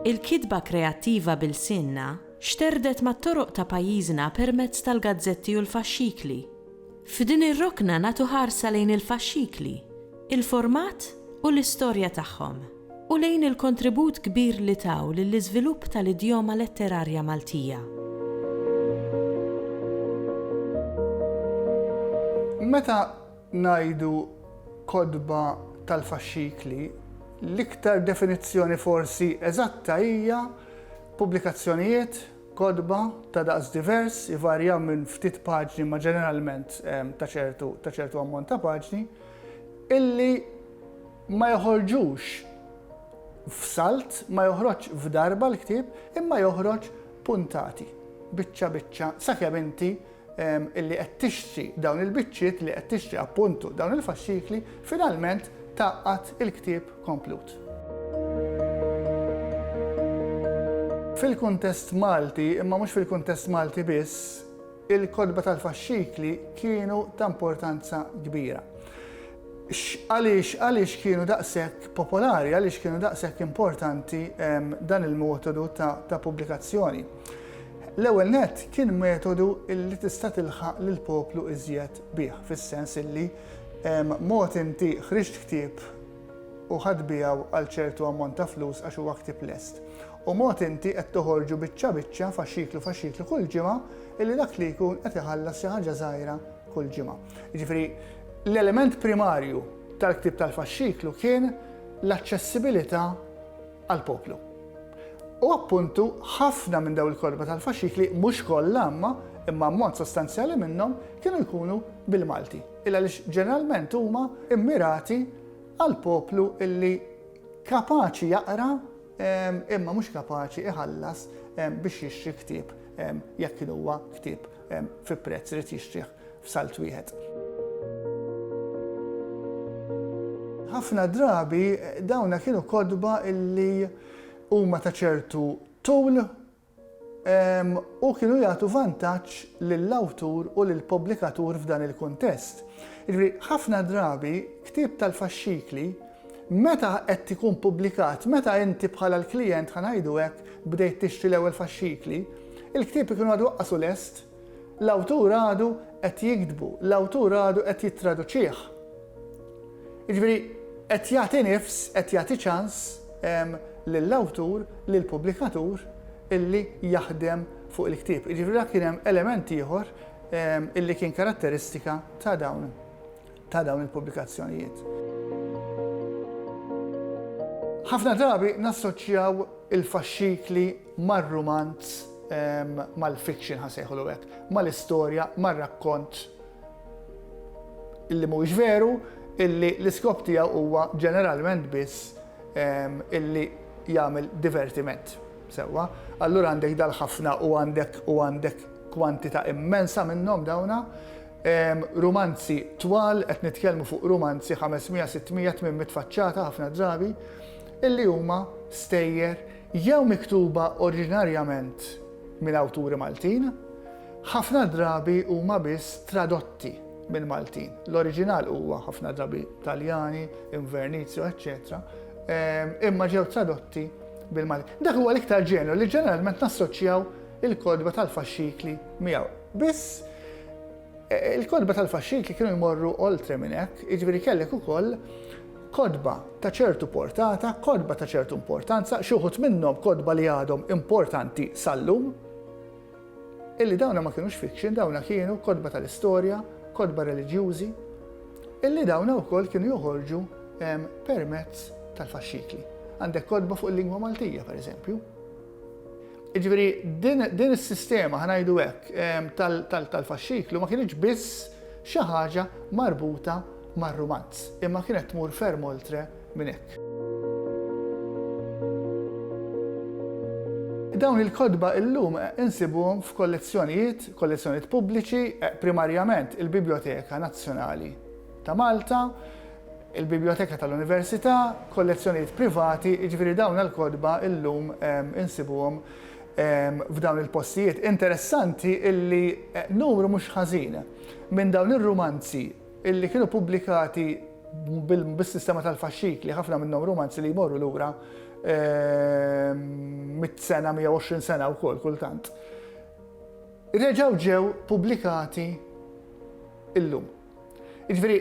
Il-kitba kreattiva b'ilsienna xterdet mat-toroq ta' pajjiżna permezz tal-gazzetti u l-faxxikli. F'din ir-rokna nagħtu ħarsa lejn il-faxxikli, il-format u l-istorja tagħhom, u lejn il-kontribut kbir li taw lill-iżvilupp tal-idjoma letterarja Maltija. Meta ngħidu kotba tal-faxxikli, l-iktar definizzjoni forsi eżatta hija pubblikazzjonijiet, kotba, ta' daqs divers, ivarja minn ftit paġni ma' ġeneralment ta' ċertu ammont ta' paġni, illi ma joħorġux f'salt, ma joħroġx f'darba l-ktieb, imma joħroġ puntati, biċċa biċċa, sakemm inti illi qed tixtri dawn il-biċċiet li qed tixtri appuntu dawn il-faxxikli, finalment taqqat il-ktieb komplut. Fil-kuntest Malti, imma mhux fil-kuntest Malti biss, Il-kotba tal-faxxikli kienu ta' importanza kbira. Għaliex għaliex kienu daqshekk popolari, għaliex kienu daqshekk importanti ehm, dan il-metodu ta', ta pubblikazzjoni? L-ewwel nett kien metodu li tista' tilħaq lill poplu iżjed bih, fis-sens illi ehm, mod inti ħriġt ktieb u ħadd biegħu għal ċertu ammont ta' flus għax huwa ktieb lest. U mod inti qed toħorġu biċċa biċċa faxxiklu faxxiklu kull ġimgħa illi dak li jkun qed iħallas xi ħaġa żgħira kull ġimgħa. Jiġifieri l-element primarju tal-ktieb tal-faxxiklu kien l-aċċessibilità għall-poplu. U appuntu ħafna minn daw il-korba tal-faxxikli mhux kollha imma imma mod sostanzjali minnhom kienu jkunu bil-Malti. Illa li ġeneralment huma immirati għal poplu illi kapaċi jaqra imma mhux kapaċi iħallas biex jixtri ktieb jekk kien huwa ktieb fi prezz irid jixtrih f'salt wieħed. Ħafna drabi dawna kienu kotba illi huma ta' ċertu tul u kienu jagħtu vantaġġ lill-awtur u lill-pubblikatur f'dan il-kuntest. Jiġifieri ħafna drabi ktieb tal-faxxikli meta qed ikun pubblikat, meta inti bħala l-klijent ħa ngħidu hekk bdejt tixtri l-ewwel faxxikli, il-ktieb ikun għadu aqqasu lest, L-awtur għadu qed jiktbu, l-awtur għadu qed jittraduċih. Jiġifieri qed jagħti nifs, qed jagħti ċans lill-awtur, lill-pubblikatur illi jaħdem fuq il-ktieb. Jiġifieri dak kien hemm element ieħor illi kien karatteristika ta' dawn ta' dawn il-pubblikazzjonijiet. Ħafna drabi nassoċjaw il-faxxikli mar-rumanz, mal-fiction ħasejħulu hekk, mal-istorja, mar-rakkont illi mhuwiex veru, illi l-iskop tiegħu huwa ġeneralment biss illi jagħmel divertiment. Sewwa, allura għandek dal-ħafna u għandek u għandek kwantità immensa minnhom dawna, Rumanzi twal, qed nitkellmu fuq rumanzi 500, 600, 800 faċċata ħafna drabi, illi huma stejjer jew miktuba oriġinarjament minn awturi Maltin, ħafna drabi huma biss tradotti minn Maltin. L-oriġinal huwa ħafna drabi Taljani, Invernizio, eċċetera, imma ġew tradotti bil-Maltin. Dak huwa l-iktar ġenru li ġeneralment nassoċjaw il-kodba tal-faxxikli miegħu. Biss, il-kotba tal-faxxikli kienu jmorru oltre minn hekk, jiġifieri kellek ukoll kotba ta' ċertu portata, kotba ta' ċertu importanza, xi wħud minnhom kotba li għadhom importanti sal-lum, illi dawna ma kinux fiction, dawna kienu kotba tal-istorja, kotba reliġjużi, illi dawna wkoll kienu joħorġu permezz tal-faxxikli. Għandek kotba fuq il-lingwa Maltija, pereżempju. Jiġifieri din is-sistema, ħa ngħidu hekk, tal-faxxiklu ma kinitx biss xi ħaġa marbuta mar-rumanz, imma kienet tmur ferm oltre minn hekk. Dawn il-kotba illum insibuhom f'kollezzjonijiet, kollezzjonijiet pubbliċi, primarjament il-Bibljoteka Nazzjonali ta' Malta, il-bibljoteka tal-Università, kollezzjonijiet privati, jiġifieri dawn il-kotba llum insibuhom f'dawn il-postijiet. Interessanti illi numru mhux ħażin minn dawn ir-rumanzi illi kienu pubblikati bis-sistema tal-faxxikli, ħafna minnhom rumanzi li jmorru lura mitt sena, 120 sena wkoll kultant, reġgħu ġew pubblikati llum. Jiġifieri,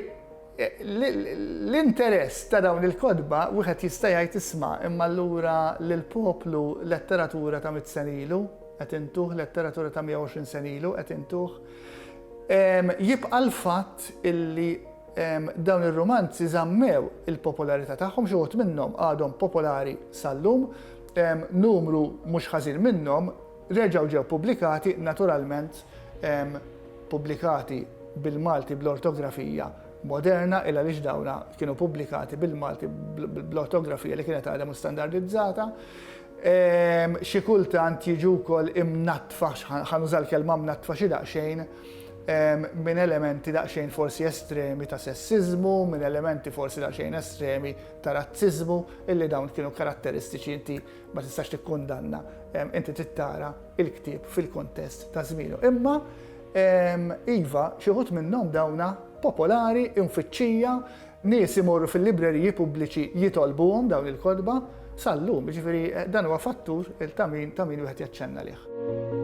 l-interess ta' dawn il-kotba wieħed jista' jgħid isma' imma allura lill-poplu letteratura ta' mitt sena ilu qed intuh, letteratura ta' 120 sena ilu qed intuh. Jibqa' l-fatt illi dawn ir-rumanzi żammew il-popolarità tagħhom, xi wħud minnhom għadhom popolari sal-lum, numru mhux ħażin minnhom, Reġgħu ġew pubblikati, naturalment pubblikati bil-Malti bl-ortografija moderna il għaliex dawn kienu pubblikati bil-Malti bl-ortografija li kienet għadha mhux standardizzata. Xi kultant jiġu wkoll imnattfa, ħa nuża l-kelma mnattfa xi daqsxejn, minn elementi daqsxejn forsi estremi ta' sessiżmu, minn elementi forsi daqsxejn estremi ta' razziżmu, illi dawn kienu karatteristiċi inti ma tistax tikkundanna, inti trid tara il-ktieb fil-kontest ta' żmienu. Imma iva, xi ħut minnhom dawna popolari, infittxija, nies imorru fil-libreriji pubbliċi jitolbuhom dawn il-kodba sal-lum, ġifieri eh, dan huwa fattur ta' min ta' min wieħed jaċċenna lih.